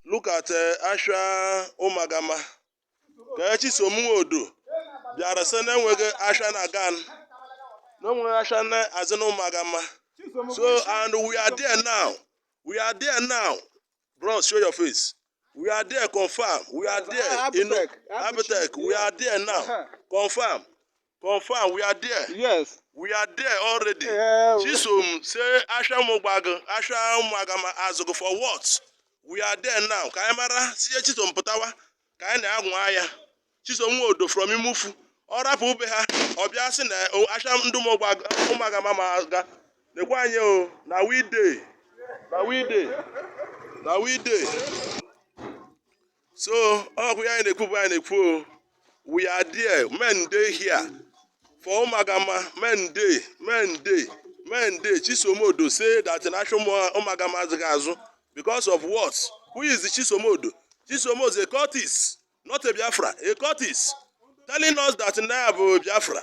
Look at eh, Ashwa Ụmụagama. Ka Chisom Nwodo bịara sị na enweghị Ashwa na-aga. Na enweghị Ashwa na-azụ na Ụmụagama. So and we are there now. We are there now. Bros, show your face. We are there, confirm. We are there. You know, Abitech. We are there now. Confirm. Confirm, we are there. Yes. We are there already. Yeah, we- Chisom say Asha Ụmụogbagụ, Asha Ụmụagama azụgụ for what? We are there now. Ka anyị mara sị Chisom pụtawa ka anyị na-anwa ya. Chisom Nwodo from Imufu. Ọ rapụ be ha, ọ bịa sị na o, Asha ndị Ụmụogbagụ, Ụmụagama ama aga. Nekwa anyị o, na we dey. Na we dey. Na we dey. so okwu anyị na-ekwu bụ anyị na-ekwu o. we are there men dey here for Ụmụagama men dey men dey men dey Chisom Odo say that na asha Ụmụagama azụghị azụ because of what who is the Chisom Odo Chisom Odo is a cultist not a biafra a cultist telling us that na bụ biafra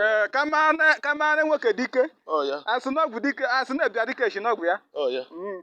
ee kama na nwoke dị ike a sị n'ọgwụ dị ike a sị na dibịa dị ike esi n'ọgwụ ya Mm.